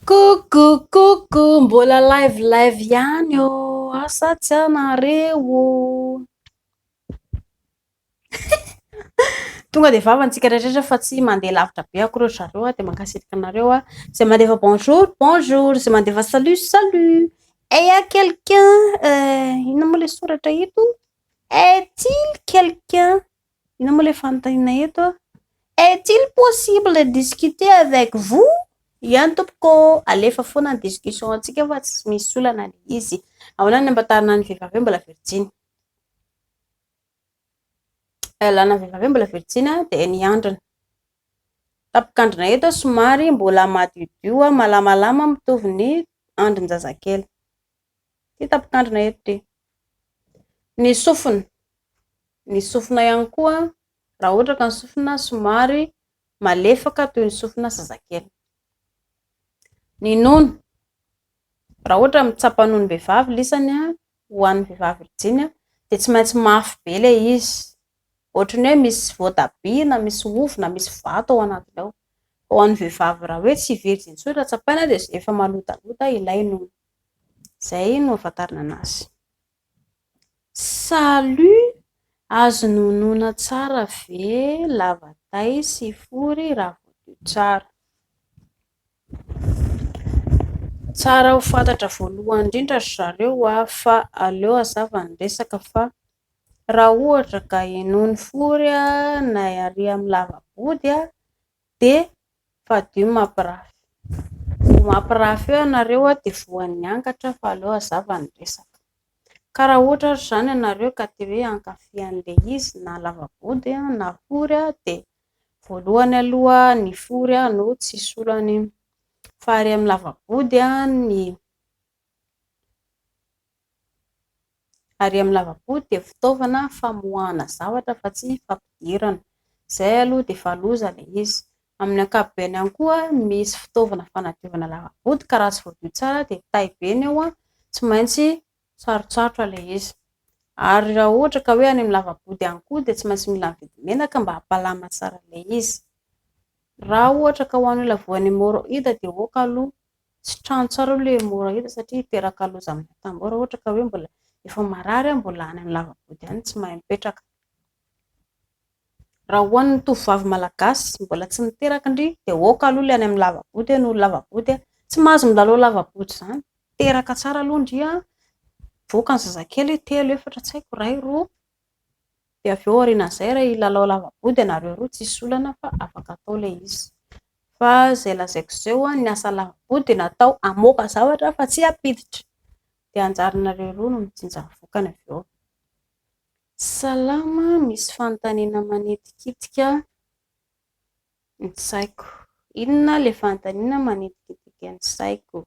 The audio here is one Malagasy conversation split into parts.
Coucou coucou mbola live live ihany ô asa tsy anareo ô tonga de vava antsika rehetra fa tsy mandeha lavitra be akory ry zareo a de mankasitraka anareo a zay mandefa bonjour bonjour zay mandefa salut salut et ya quelqu'un inona moa le soratra eto est-il quelqu'un Inona moa ilay fanontaniana eto a? Est-il possible de discuter avec vous? Ihany tompoko, alefa foana ny discussion antsika fa tsy misy olana le izy. Ahoana ny ampatarana an'ny vehivavy hoe mbola virjiny? Ilana vehivavy hoe mbola virjiny dia ny androny. Tampokandrina eto somary mbola madiodio malamalama mitovy ny andrin-jazakely. Hita mpitandrina eto dia ny sofina. Ny sofina ihany koa, raha ohatra ka ny sofina somary malefaka toy ny sofina zazakely. Ny nono, raha ohatra mitsapa nono vehivavy lisany ho an'ny vehivavy virjiny dia tsy maintsy mafy be ilay izy, ohatry ny hoe misy voatabia na misy ovy na misy vato ao anatiny ao. Ho an'ny vehivavy raha hoe tsy virjiny intsony raha tsapaina dia efa malotalota ilay nono. Izay no ahafantarana anazy. Salut! Azo nonoina tsara ve lava tay sy fory raha voadio tsara? Tsara ho fantatra voalohany indrindra ry zareo a, fa aleo hazava ny resaka fa raha ohatra ka henoiny fory na ary amin'ny lava-body dia fadio ny mampirafy, vao mampirafy eo ianareo dia voan'ny angatra fa aleo hazava ny resaka, ka raha ohatra ary izany ianareo ka te hoe hankafy an'ilay izy na lava-body na fory dia voalohany aloha ny fory no tsy hisy olana iny, fa ary amin'ny lava-body ny Ary amin'ny lava-po dia fitaovana famoahana zavatra fa tsy fampidirana. Izay aloha dia efa loza ilay izy. Amin'ny ankapobeny ihany koa, misy fitaovana fanadiovana lava-boty ka raha tsy voadio tsara dia tay be ny ao, tsy maintsy sarotsarotra ilay izy. Ary raha ohatra ka hoe any amin'ny lava-boty ihany koa dia tsy maintsy mila mividy menaka mba hampalama tsara ilay izy. Raha ohatra ka ho an'olona voan'ny hémorroïde dia aoka aloha Tsy trano tsara aloha ilay mora hita satria hiteraka loza amin'ny atambo raha ohatra ka hoe mbola efa marary aho mbola any amin'ny lava-body any tsy mahay mipetraka. Raha ho an'ny tovovavy malagasy mbola tsy niteraka ndry dia aoka aloha ilay any amin'ny lava-body noho ny lava-body an, tsy mahazo milalao lava-body izany, teraka tsara aloha ndry an, voaka ny zazakely telo efatra tsy haiko iray roa, dia avy eo aorianan'izay raha hilalao lavaboa dia nareo roa tsisy olana fa afaka atao ilay izy fa izay lazaiko izay hoa ny asa lavaboa dia natao hamoaka zavatra fa tsy hampiditra dia anjaranareo roa no mijinja ny vokany avy eo salama misy fanontaniana manitikitika ny saiko inona ilay fanontaniana manitikitika ny saiko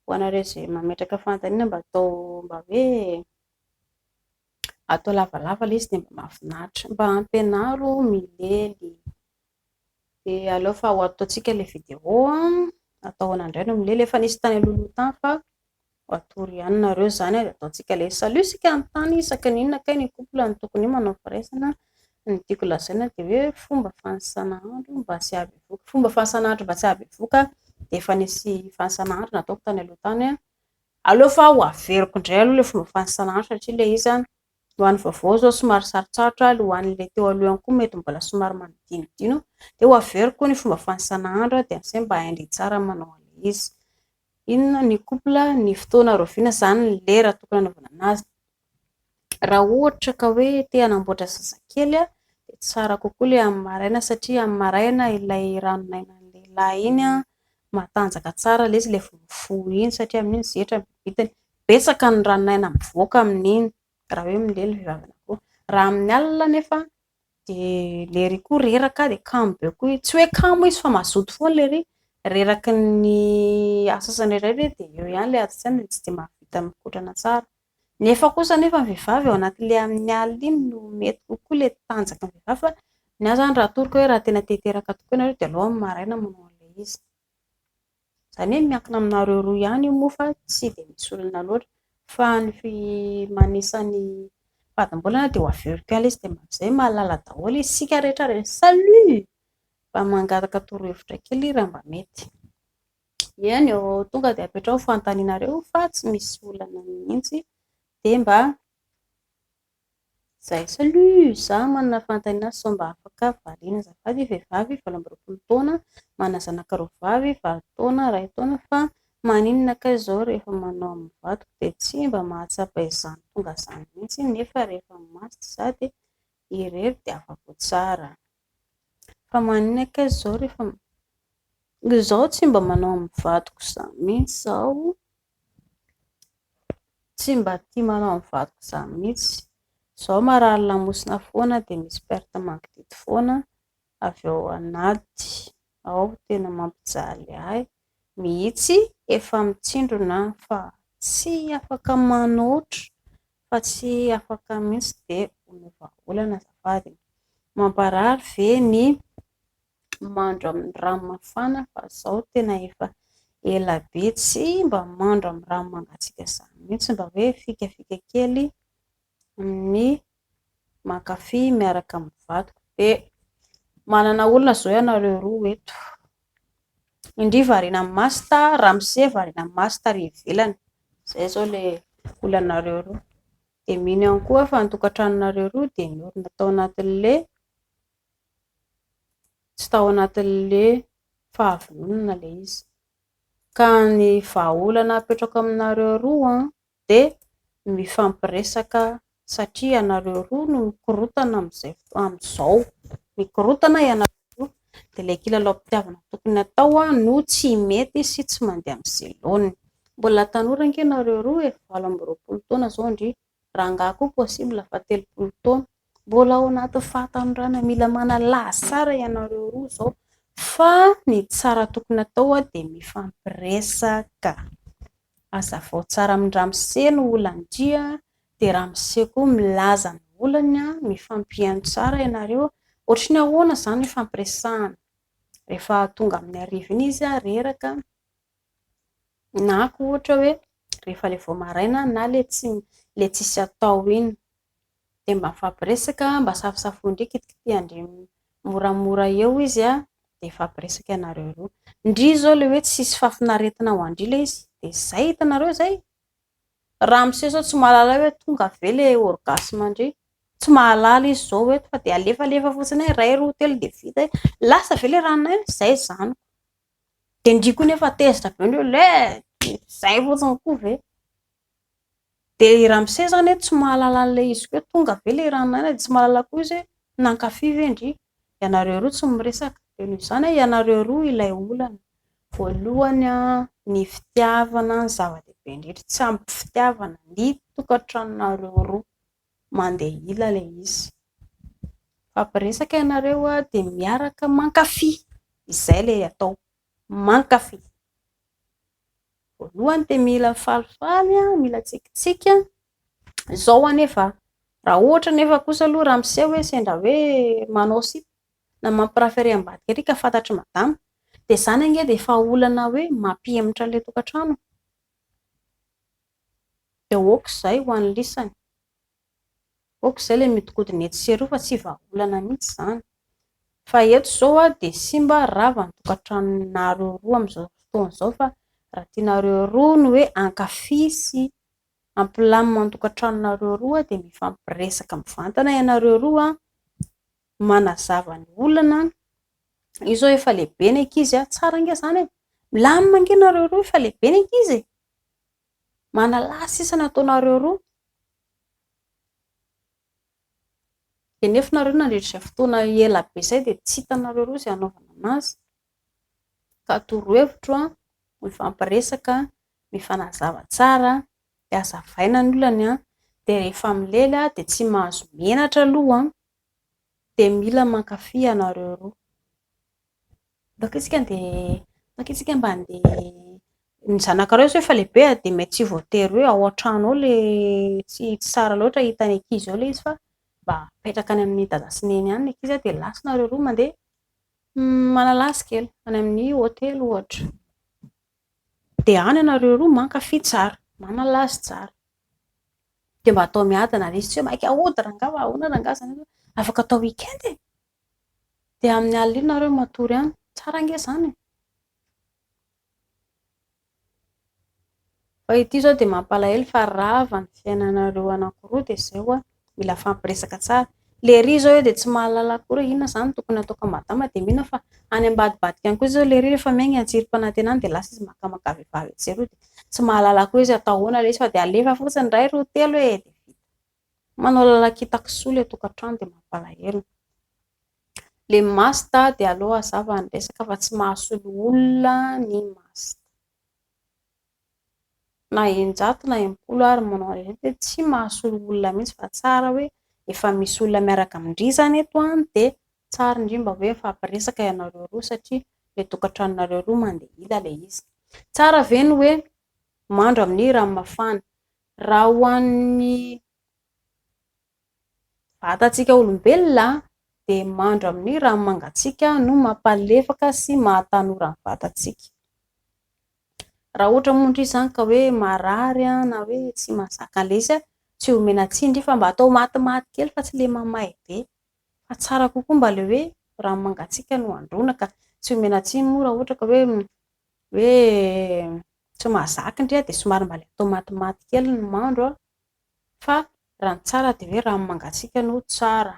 ho anareo izay mametraka fanontaniana mba atao mba hoe atao lavalava ilay izy dia mba mahafinaritra, mba ampianaro milely, dia aleo fa ho ataontsika ilay vidéo an, atahona indray ny milely, efa nisy tany alohaloha tany fa ho atoro ihany nareo izany an, dia ataontsika ilay izy, salut isika hanontany isaka ny inona kay ny couple no tokony manao firaisana, ny tiako lazaina dia hoe fomba fanisana andro mba tsy hahabevoka, fomba fanisana andro mba tsy hahabevoka dia efa nisy fanisana andro nataoko tany aloha tany an, Aleo fa ho averiko indray aloha ilay fomba fanisanana satria ilay izy an, ho an'ny vaovao izao somary sarotsarotra ary ho an'ilay teo aloha ihany koa mety mbola somary manodinodino dia ho averiko ny fomba fanisana andro dia amin'izay mba hain-dry tsara manao an'ilay izy. Inona ny couple, ny fotoana rahoviana izany ny lera tokony hanaovana an'azy. Raha ohatra ka hoe te hanamboatra zazakely dia tsara kokoa ilay amin'ny maraina satria amin'ny maraina ilay ranon'ainan'ny lehilahy iny matanjaka tsara ilay izy ilay vao mifoha iny satria amin'iny zetra ny bibitany. Betsaka ny ranon'aina mivoaka amin'iny raha hoe milay ny vehivavy anankiroa. Raha amin'ny alina anefa dia lery koa reraka dia kamo be koa izy, tsy hoe kamo izy fa mazoto foana lery, reraky ny asa sasany irery dia eo ihany ilay ady tsy dia mahavita mikotrana tsara. Nefa kosa anefa ny vehivavy ao anaty le amin'ny alina iny no mety kokoa le tanjaky ny vehivavy fa ny ahy izany raha atoroko hoe raha tena te hiteraka tokoa ianareo dia aleo amin'ny maraina manao an'ilay izy. Izany hoe miankina aminareo roa ihany io moa fa tsy dia misy olona loatra. Fa ny manisa ny fadimbolana dia ho averiko ihany ilay izy dia mba amin'izay mahalala daholo isika rehetra. Salut! Mba mangataka torohevitra kely raha mba mety. Eny ô, tonga dia apetraho fanontanianareo fa tsy misy olana mihitsy, dia mba izay, salut, za manana fanontaniana sao mba afaka variana azafady, vehivavy valo amby roapolo taona, manana zanaka roa vavy, valo taona, iray taona, fa maninona kay izao rehefa manao amin'ny vadiko dia tsy mba mahatsapa izany tonga izany mihitsy nefa rehefa maty za dia irery dia afa-po tsara. Fa maninona kay izao rehefa izaho tsy mba manao amin'ny vadiko izany mihitsy izaho, tsy mba tia manao amin'ny vadiko izany mihitsy, izaho marary lamosina foana dia misy perte mangididy foana avy ao anaty Ao tena mampijaly ahy mihitsy efa mitsindrona an fa tsy afaka manoatra fa tsy afaka mihitsy de omeo vahaolana azafady e! mamparary ve ny mandro amin'ny rano mafana fa zao tena efa ela be tsy mba mandro amin'ny rano mangatsiaka zany mihitsy mba hoe fikafika kely Amin'ny mankafy miaraka amin'ny vadiko dia manana olona izao ianareo roa eto. Indri variana amin'ny masta, ramose variana amin'ny masta ary ivelany. Izay izao ilay olanareo roa. Dia mino ihany koa fa ny tokantranonareo roa dia niorina tao anatin'ilay tsy tao anatin'ilay fahavononana ilay izy. Ka ny vahaolana apetrako aminareo roa dia mifampiresaka satria ianareo roa no mikorontana amin'izay amin'izao, mikorontana ianareo roa dia ilay kilalaom-pitiavana tokony hatao no tsy mety sy tsy mandeha amin'ny ze laoniny, mbola tanora ange nareo roa e, valo amby roapolo taona izao ndry, rangahy koa possible fa telopolo taona, mbola ao anatin'ny fahatanorana, mila manalaza tsara ianareo roa izao fa ny tsara tokony hatao dia mifampiresaka. Azavao tsara amin'ny ramose no olandry a, dia ramose koa milaza ny olany a, mifampihaino tsara ianareo, ohatry ny ahoana izany no ifampiresahana? rehefa tonga amin'ny hariva iny izy reraka, na koa ohatra hoe rehefa ilay vao maraina na ilay tsisy atao iny. dia mba mifampiresaka mba safosafoy ndry kitikitiha ndry moramora eo izy a, dia hifampiresaka ianareo roa, ndry izao le hoe tsisy fahafinaretina ho andry le izy dia zay hitanareo zay, ramose zao tsy mahalala hoe tonga ve le orgasme andry, tsy mahalala izy zao eto fa dia alefalefa fotsiny hoe iray roa telo dia vita hoe lasa ve le ranona eo, zay zaniko, dia ndry koa nefa tezitra be ndry hoe lé, zay fotsiny koa ve. Dia i Ramose izany hoe tsy mahalala an'ilay izy koa hoe tonga ve ilay Ranaina dia tsy mahalala koa izy hoe nankafy ve ndry ianareo roa tsy miresaka. Dia noho izany hoe ianareo roa ilay olana. Voalohany ny fitiavana no zava-dehibe indrindra, tsy ampy fitiavana ny tokantranonareo roa, mandeha ila ilay izy. Mifampiresaka ianareo dia miaraka mankafy, izay ilay atao, mankafy. Voalohany dia mila falifaly, mila tsikitsiky, izao anefa raha ohatra anefa kosa aloha raha miseho hoe sendra hoe manao sipa na mampiprafere ambadika ery ka fantatr'i madama dia izany ange dia efa olana hoe mampihemotra an'ilay tokantrano e! dia ok izay ho an'ny lisany. ok zay le miodikodina etsy sy eroa fa tsy vahaolana mihitsy zany fa eto zao a de simba rava ny tokatranonareo roa amizao fotoana zao fa raha tianareo roa ny hoe hankafy sy hampilamina ny tokatranonareo roa de mifampiresaka mivantana ianareo roa manazava ny olana io zao efa lehibe ny ankizy a, tsara ange zany e, milamina ange nareo roa efa lehibe ny ankizy e. Manalahy sisa nataonareo roa. Dia nefa nareo nandritra izay fotoana ela be izay dia tsy hitanareo roa izay hanaovana anazy. Ka torohevitro, mifampiresaka, mifanazava tsara, dia azavaina ny olany, dia rehefa milely dia tsy mahazo menatra aloha Dia mila mankafy ianareo roa. Toaka isika dia toaka isika mba handeha ny zanakareo izao efa lehibe a, dia mety tsy voatery hoe ao an-trano ao le tsy tsy tsara loatra hita ny ankizy ao le izy fa mba apetraka any amin'ny dada sy neny any ny ankizy a, dia lasa nareo roa mandeha manalasa kely any amin'ny hotely ohatra. Dia any ianareo roa mankafy tsara, manalazy tsara. Dia mba atao miadana ilay izy, tsy hoe maika hody rangahy fa ahoana rangahy izany hoe afaka atao week-end e. Dia amin'ny alina iny ianareo matory any, tsara ange izany e. Fa ity izao dia mampalahelo fa rava ny fiainanareo anankiroa dia izay ho'a. mila mifampiresaka tsara. Lery izao eo dia tsy mahalala akory hoe inona izany tokony hataoko an'i Madama dia mino aho fa any ambadibadika any koa izao lery rehefa miainga any an-tsirim-panantenana any dia lasa izy makamaka vehivavy etsy sy eroa dia tsy mahalala akory izy hoe atao ahoana ilay izy fa dia alefa fotsiny indray roa telo e dia vita. Manao lalan-k'ita kisoa ilay tokantrano dia mampalahelo. Le masta dia aleo hazava ny resaka fa tsy mahasolo olona ny masta. na eninjato na enimpolo ary manao an'ireny dia tsy mahasolo olona mihitsy fa tsara hoe efa misy olona miaraka amin-dry izany eto an dia tsara indrindra hoe mifampiresaka ianareo roa satria ilay tokantranonareo roa mandeha ila ilay izy. Tsara ve ny hoe mandro amin'ny rano mafana? Raha ho an'ny Vatantsika olombelona dia mandro amin'ny rano mangatsiaka no mampalefaka sy mahatanora ny vatantsika. Raha ohatra moa indray izany ka hoe marary na hoe tsy mazaka lesy, tsy omena tsindry fa mba atao matimaty kely fa tsy ilay mamay be. Fa tsara kokoa mba ilay hoe rano mangatsiaka no androana ka tsy omena tsiny moa raha ohatra ka hoe hoe tsy mazaka indray dia somary mba atao matimaty kely ny mandro Fa raha ny tsara dia hoe rano mangatsiaka no tsara.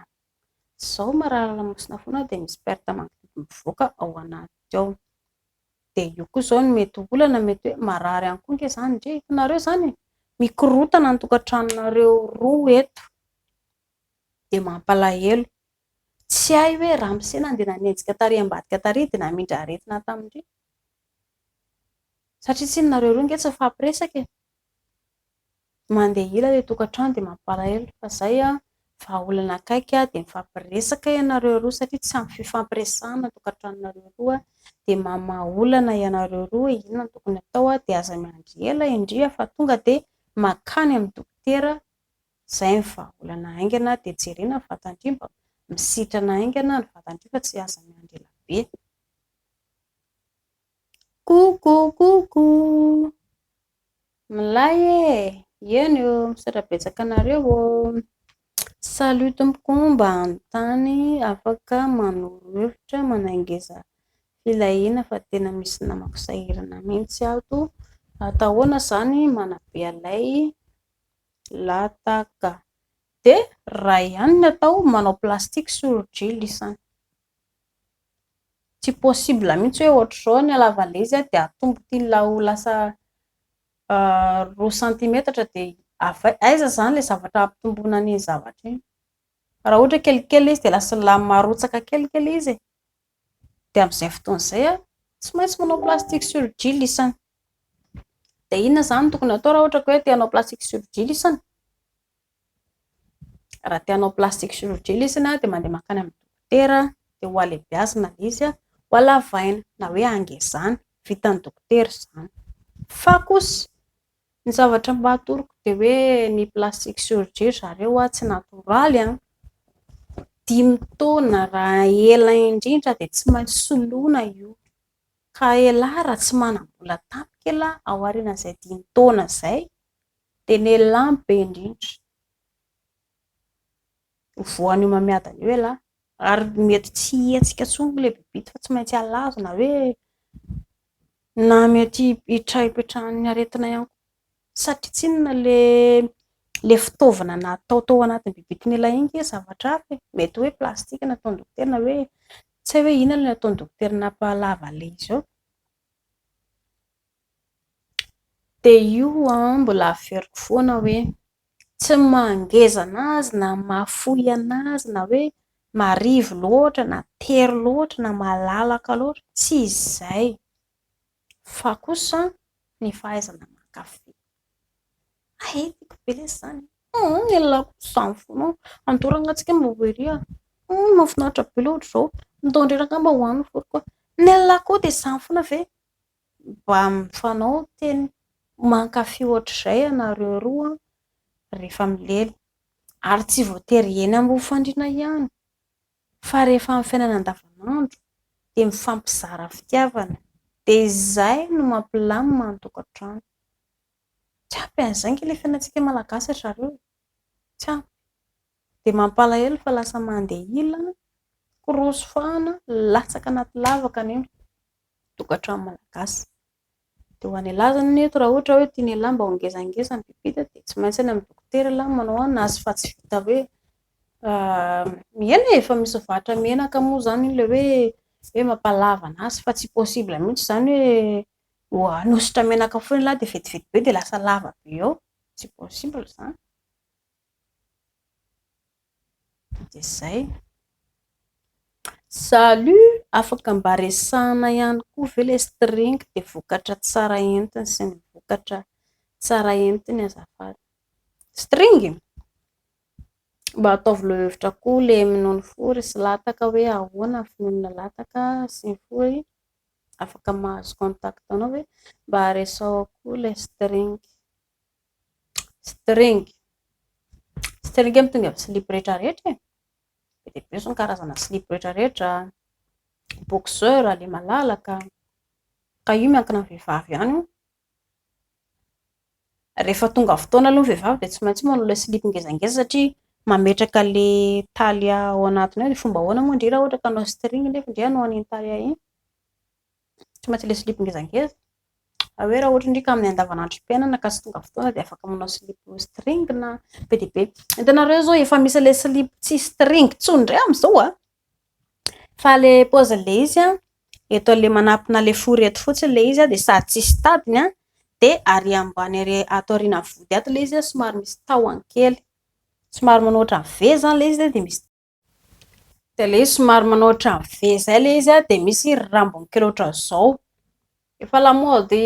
Izao marary lamosina foana dia misy perte magnitude mivoaka ao anaty ao. Dia io koa izao no mety ho olana, mety hoe marary ihany koa ange izany ndry e, hitanareo izany e, mikorotana ny tokantranonareo roa eto, dia mampalahelo. Tsy hay hoe ramose nandeha nanenjika tary ambadika tary dia namindra aretina tamin-dry? Satria tsy nareo roa ange tsy nifampiresaka e. Mandeha hira ilay tokantrano dia mampalahelo fa izay an, vahaolana akaiky dia mifampiresaka ianareo roa satria tsy ampy fifampiresahana ny tokantranonareo roa dia mamaha olana ianareo roa hoe inona no tokony hatao dia aza miandry ela indrindra fa tonga dia mankany amin'ny dokotera, izay ny vahaolana haingana dia jerena ny vatan-dry mba misitrana haingana ny vatan-dry fa tsy aza miandry ela be. Coucou coucou Milay e! Eny ô! Misaotra betsaka anareo ô! Salut tompoko ô! Mba anontany afaka manoro hevitra manaingeza filahiana fa tena misy namako sahirana mihitsy ato, atao ahoana izany manabe an'ilay lataka? dia raha ihany ny atao manao plastique sur drill isany. Tsy possible mihitsy hoe ohatr'izao ny halavan'ilay izy dia atomboky iny la ho lasa roa centimetatra dia avy aiza izany ilay zavatra hampitomboina an'iny zavatra iny? Raha ohatra hoe kelikely ilay izy dia lasa la marotsaka kelikely ilay izy e! Dia amin'izay fotoana izay aho tsy maintsy manao plastique surgile isany. Dia inona izany no tokony hatao raha ohatra ka hoe te hanao plastique surgile isany? Raha te hanao plastic chirurgie ilay izy na dia mandeha mankany amin'ny dokotera dia ho alebiazina ilay izy, ho alavaina na hoe hangezana, vitan'ny dokotera izany. Fa kosa ny zavatra mba atoroko dia hoe ny plastic chirurgie ry zareo tsy natoraly, dimy taona raha ela indrindra dia tsy maintsy soloina io, ka elah raha tsy manam-bola tampoka elah ao aorian'izay dimy taona izay. Dia ny elah no be indrindra. Io voan'io mamiadana io elah. Ary mety tsy hihetsika intsony ilay bibita fa tsy maintsy alazina hoe na mety hipetraha ipetrahan'ny aretina ihany koa. Satry tsinona ilay ilay fitaovana natao tao anatin'ny bibitin'elah iny ve zavatra hafa e? Mety hoe plastika no nataon'ny dokotera na hoe tsy hay hoe inona no nataon'ny dokotera nampahalava ilay izy eo. Dia io an, mbola averiko foana hoe tsy mangeza anazy na mahafoy anazy na hoe marivo loatra na tery loatra na malalaka loatra, tsy izay, fa kosa ny fahaizana mankafy. Hay e, tiako be lesy izany e, ny lelilahiko kosa izany foana an, andao rangahy mba ho ery an, mahafinaritra be ilay ohatr'izao, ndao indray rangahy mba ho any ny foroko an, ny lelilahiko koa dia izany foana ve? Mba mifanao teny. Mankafy ohatr'izay ianareo roa rehefa milely. Ary tsy voatery eny amin'ny fandriana ihany, fa rehefa amin'ny fiainana andavanandro dia mifampizara fitiavana. Dia izay no mampilamina ny tokantrano. Tsy ampy an'izay ange ilay fiainantsika Malagasy ry zareo e! Tsy ampy. Dia mampalahelo fa lasa mandeha ila, kiroso fahana, latsaka anaty lavaka ny eny. tokantrano malagasy. Dia ho an'ialahy izany anie eto raha ohatra hoe tian'ialahy mba ho ngezangeza ny bibi-ta dia tsy maintsy any amin'ny dokotera ialahy no manao an, azy fa tsy vita hoe mihena e, efa misy varotra menaka moa izany iny ilay hoe hoe mampalava an'azy fa tsy possible mihitsy izany hoe hanosotra menaka foana ialahy dia vetivety be dia lasa lava be ao, tsy possible izany. dia zay salut afaka mba resahana ihany koa ve le string de vokatra tsara entiny sy ny vokatra tsara entiny azafady string mba ataovy lo hevitra koa le minono fory sy lataka hoe ahoana ny finoana lataka sy ny fory afaka mahazo contact anao hoe mba resaho koa le string String. String amin'ny tonga amin'ny slip rehetra rehetra e. Be dia be ny karazana slip rehetra rehetra. Boxeur, ilay malalaka. Ka io miankina amin'ny vehivavy ihany io. Rehefa tonga fotoana aloha ny vehivavy dia tsy maintsy manao ilay slip ngezangeza satria mametraka ilay taille ao anatiny ao. Dia fomba ahoana moa ndry raha ohatra ka hanao string nefa ndry hanao an'iny taille iny? tsy maintsy ilay slip ngezangeza fa hoe raha ohatra ndrika amin'ny andavanandrom-piainana ka tsy tonga fotoana dia afaka manao slip string na be dia be hitanareo izao efa misy ilay slip tsy string intsony indray amin'izao a fa ilay paozin'ilay izy a eto ilay manampina ilay fory eto fotsiny ilay izy a dia sady tsisy tadiny a dia ary ambany ary ato aoriana vody ato ilay izy a somary misy tahony kely somary manao ohatran'ny v izany ilay izy dia misy dia ilay izy somary manao ohatran'ny V izay ilay izy dia misy rambony kely ohatran'izao, efa lamaody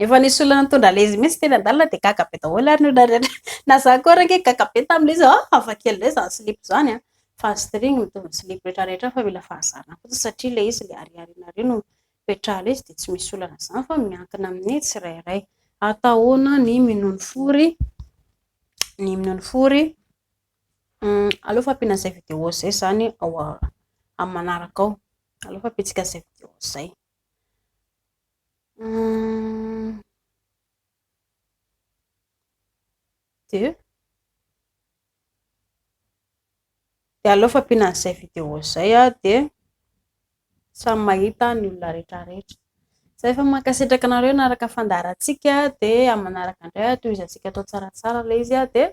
efa nisy olona nitondra ilay izy mihintsy teny an-dalana dia gaga be daholo ary ny olona rehetra, na izaho koa ary ange gaga be tamin'ilay izy an, hafa kely indray izany silipo izany an, fa ny string mitovy amin'ny silipo rehetra rehetra fa mila fahazarana fotsiny satria ilay izy ilay ariariana ary no hipetraha ilay izy dia tsy misy olana izany fa miankina amin'ny tsirairay, atao ahoana ny minono fory ny minono fory? Aleo fa ampiana izay vidéo izay zany ao amin'ny manaraka ao, aleo fa ampiantsika izay vidéo izay. Dia dia aleo fa ampiana izay vidéo izay dia samy mahita ny olona rehetra rehetra. Zay efa mankasitraka anareo naraka fandaharantsika dia amin'ny manaraka indray tohizantsika atao tsaratsara ilay izy dia.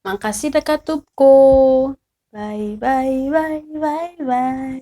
Mankasitraka tompoko ô. Bye bye bye bye bye.